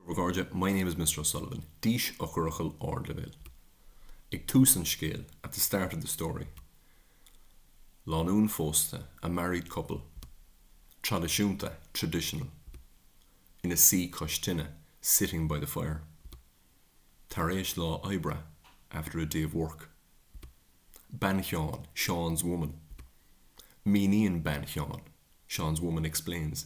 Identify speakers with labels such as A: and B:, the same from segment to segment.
A: A chairde, My name is Mr O'Sullivan. Dís, eochairfhocail ardleibhéil. Ag tús an scéil, at the start of the story. Lánúin phósta, a married couple. Traidisiúnta, traditional. Ina suí cois tine, sitting by the fire. Tar éis lá oibre, after a day of work. Bean Sheáin, Seán's woman. Míníonn bean Sheáin, Seán's woman explains.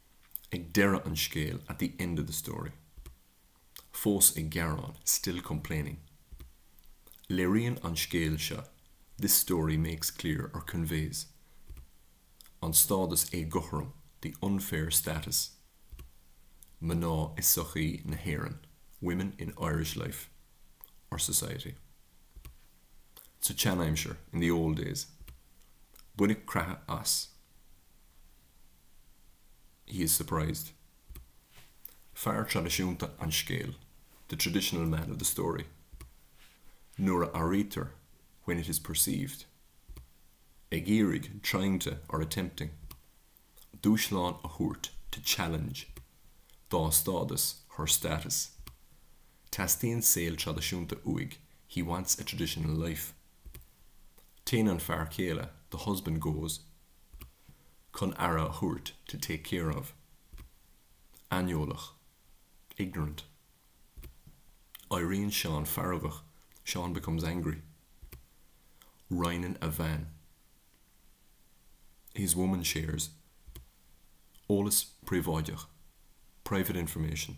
A: ag deireadh an scéil, at the end of the story. Fós ag gearán, still complaining. Léiríonn an scéal seo, this story makes clear or conveys, an stádas éagothrom, the unfair status, mná i sochaí na hÉireann, women in Irish life or society. Sa tseanaimsir, in the old days. Baineadh creathadh as. He is surprised. Fear traidisiúnta an scéil, the traditional man of the story. Nuair a airítear, when it is perceived. Ag iarraidh, trying to, or attempting. Dúshlán a thabhairt, to challenge. Dá stádas, her status. Teastaíonn saol traidisiúnta uaidh, he wants a traditional life. Téann an fear céile, the husband goes. chun aire a thabhairt, to take care of. aineolach, ignorant. Éiríonn Seán feargach, Seán becomes angry. Roinneann a bhean, his woman shares. eolas príobháideach, private information.